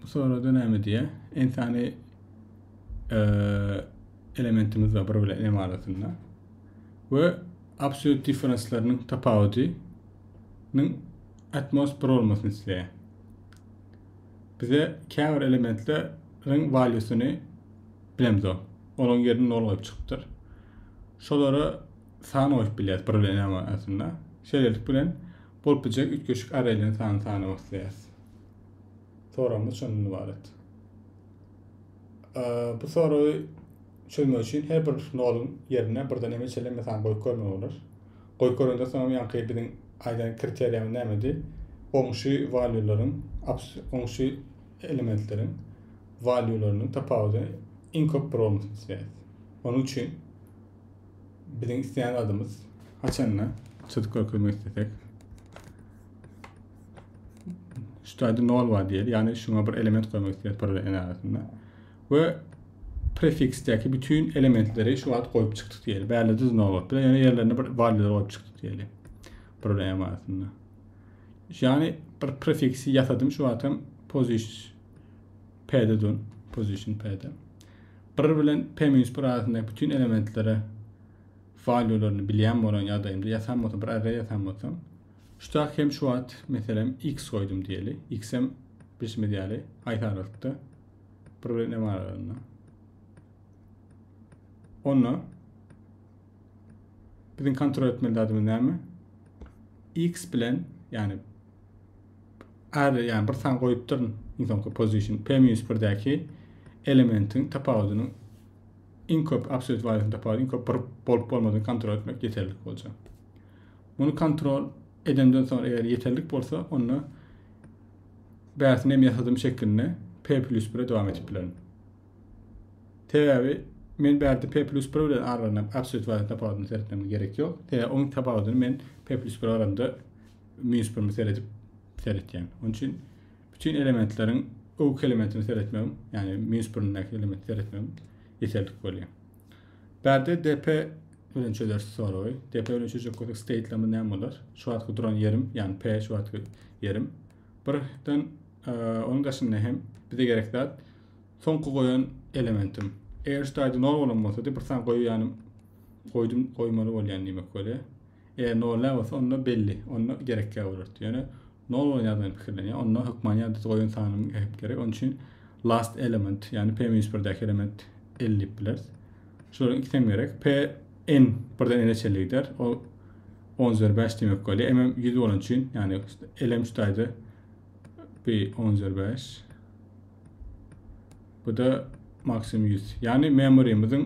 Bu soragda näme diýýär? Insany elementimiz bar bir bilen m arasynda. We absolute difference-leriniň tapawudynyň atmos 1 bolmasyny isleýär. Bize käbir elementleriň valýusyny bilemz o. Olaryň ýerini 0 goýup çykypdyr. Şolara san goýup bilýäris bir bilen m arasynda. Şeýlelik bilen bolup biljek üýtgeşik arraýlaryň sanyny sanamak isleýäris. Soragymyz şondan ibaret. Bu soragy çözmek üçin her bir noluň ýerine birden eme çelen mesan goýup görmek bolar. Goýup görenden soň ýanky biziň aýdan kriteriýamyz nämedi? Goňşy walýularyň, goňşy elementleriň walýularynyň tapawudy iň köp bir bolmasyny isleýäris. Onuň üçin biziň isleýän adymyz haçanda çyzyk görkezmek islesek Şutaýda nol bar diýeli. Ýagny şuňa bir element goýmak isleýär pyrda en arasynda. We prefiksdäki bütün elementleri şu wagt goýup çykdyk diýeli. Bärli düz nol bolup bilen ýene ýerlerine bir valýular goýup çykdyk diýeli. Pyrda en arasynda. Ýagny bir prefiksi ýasadym şu wagt hem position p-de dun. Position p-de. 1 bilen p-1 arasyndaky bütün elementlere valýularyny bilýän bolan ýagdaýymda ýasam bolsa bir array ýasam bolsa Şutak hem şu wagt meselem X goýdum diýeli. X-em bilşimiz ýaly haýsy aralykda? Bir bilen M aralygynda. Onda biziň kontrol etmeli zadymyz näme? X bilen ýagny R ýagny bir san goýup durun iň soňky position P-1-däki elementiň tapawudynyň iň köp absolýut wagtyň tapawudy iň köp bir bolup bolmadygyny kontrol etmek ýeterlik boljak. Muny kontrol edenden soň eger ýeterlik bolsa onda bäsini hem ýasadym şeklinde P plýus bire dowam edip bilerin. Sebäbi men bärde P plýus bir bilen aralanyp absolýut wagtyň tapawudyny seretmeme gerek ýok. Sebäbi oň tapawudyny men P plýus bir aramda minus birimi seredip seretýän. Onuň üçin bütün elementleriň öwki elementini seretmegim, ýagny minus birindäki elementi seretmegim ýeterlik bolýar. Bärde depe bilen çözersiz soragy. Depe bilen çözjek bolsak state lama näme bolar? Şu wagtky duran ýerim, ýagny p şu wagtky ýerim. Birden e, onuň daşynda hem bize gerek zat soňky goýan elementim. Eger şu taýda nol bolan bolsady, bir san goýýanym goýdum goýmaly bolýan diýmek bolýar. Eger nol däl bolsa, onda belli, onda gerekkä bolardy. Ýöne nol bolan ýagdaýynda pikirlenýär. Onda hökman ýadada goýan sanyň hem gerek. Onuň üçin last element, ýagny p-1-däki element L diýip bileris. Şolaryň ikisi hem gerek. P n birden n-e çenli gider. O 10 üzeri 5 diýmek bolýar. M hem 100 bolan üçin, ýagny L hem şu taýda p 10 üzeri 5. Bu da maksimum 100. Ýagny memorymyzyň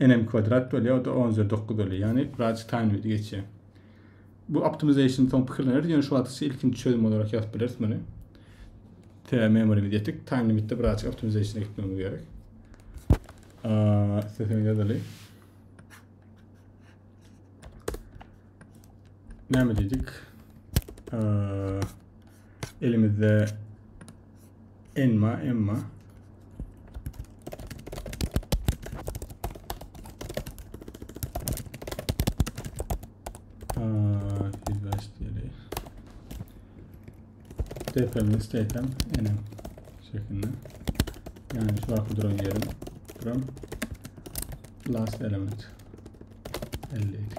Nm kwadrat bolýar, o-da on üzeri dokuz bolýar, ýagny Raj Time diýip geçýär. Bu optimization soň pikirleneris, ýöne şu wagtça ilkinji çözüm bolark ýazyp bileris muny. Te memorymyz ýetik, time limitde birazjyk optimizationa gitmegimiz gerek. Isteseňiz ýazaly. Näme diýdik? Elimizde enma, emma. Tepemiz, tepem, enem şeklinde. Yani şu an duran yerim. Duran last element. 50 edik.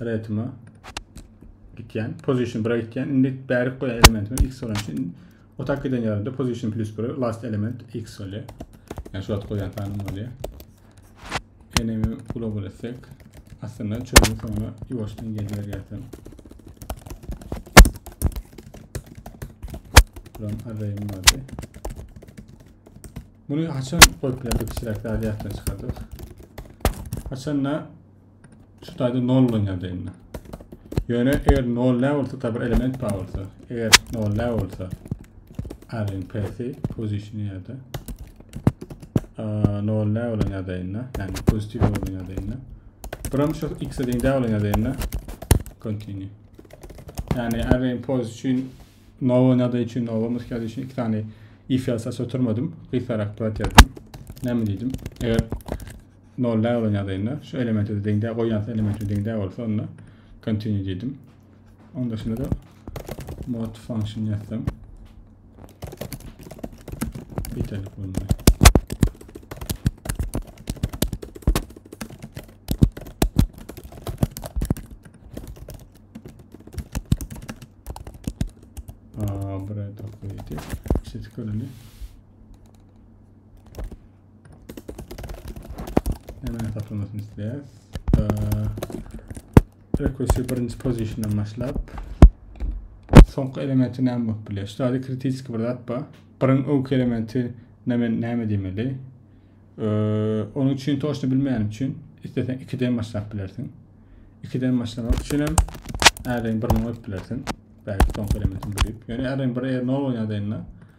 retime gitýän. Position 1-e gitýän. Indi bärik goýan elementimiz x bolan üçin o tak giden ýerinde position plus 1 last element x bolýar. Yani şu wagt goýan sanym bolýar. Enemi global etsek aslynda çözüm soňuna ýuwaşdan gelýär ýatsam. Buram array'im vardy. Bunu haçan goýup bilerdik, çiraklar ýatdan çykardyk. Haçan da şu taýda nollanýardy indi. Ýöne eger nollä bolsa, tabi bir element bar bolsa, eger nollä bolsa, aryň pesi pozisiýony ýa-da nollä bolan ýagdaýynda, ýagny pozitiw bolan ýagdaýynda, buram şu x-e deň däl bolan ýagdaýynda continue. Ýagny aryň poz üçin nowa nada üçin nowa muska üçin iki tane if ýazsa oturmadym. Gysgarak brat ýazdym. Näme diýdim? Eger nol näme bilen ýazaýynda şu elementi deň däl goýýança elementi deň däl bolsa onda continue diýdim. Onda şunda da mod function ýazsam ýeterlik bolmaly. Buraya da koyacağız. İşte çıkaralım. Hemen satılmasını isteyiz. Ee, Request'i birinci position'dan başlap. Soňky elementi näme bolup bilýär? Şu zady kritik bir zat bar. Birin öňki elementi näme näme diýmeli? Ee, onuň üçin toşny bilmeýänim üçin isteseň 2-den başlap bilersiň. 2-den başlamak üçin hem äreň birini goýup bilersiň. Belki soňky elementi bilip. Ýöne äreň bir er nol bolýan zaýynda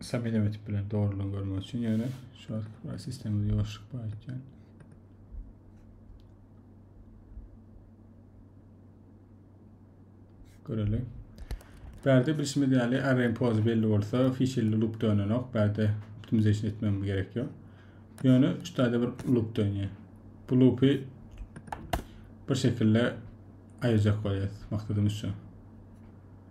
Stabil öwütip bilen dogrulygy görmek üçin ýöne şu wagt sistemde ýoşluk bar ekýän. Görelim. Bärde bilşimiz ýaly array poz belli bolsa fişilli loop dönenok. Bärde optimization etmem gerek ýok. Ýöne şu taýda bir loop dönýär. Bu loopy bir şekilde aýyrjak bolýar. Maksadymyz şu.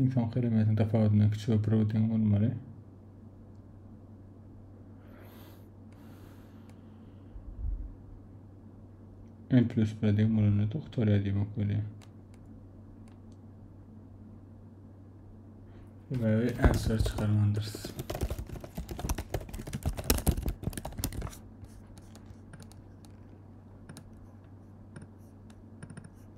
Ynsan keremetiniň tapawudyndan kiçi we bro deň bolmaly. N plus 1 deň bolanda doktor diýmek bolýar. Sebäbi answer çykarmandyrys.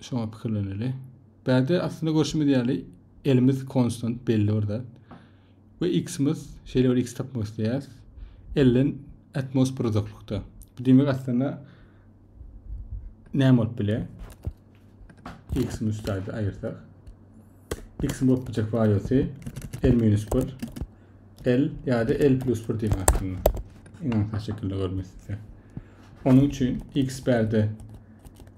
Şoňa pikirleneli. Bärde aslynda görşümiz ýaly elimiz konstant belli bir zat. We x-imiz şeýle bir x tapmak isleýäris. Elden atmos bir uzaklykda. Bu diýmek aslynda näme bolup bilýär? X-imiz üstärde aýyrsak. X-im bolup biljek wariosy L minus 1. L ýa-da L plus 1 diýmek aslynda. Iňaňsa şekilde görmek isleýär. Onuň üçin x bärde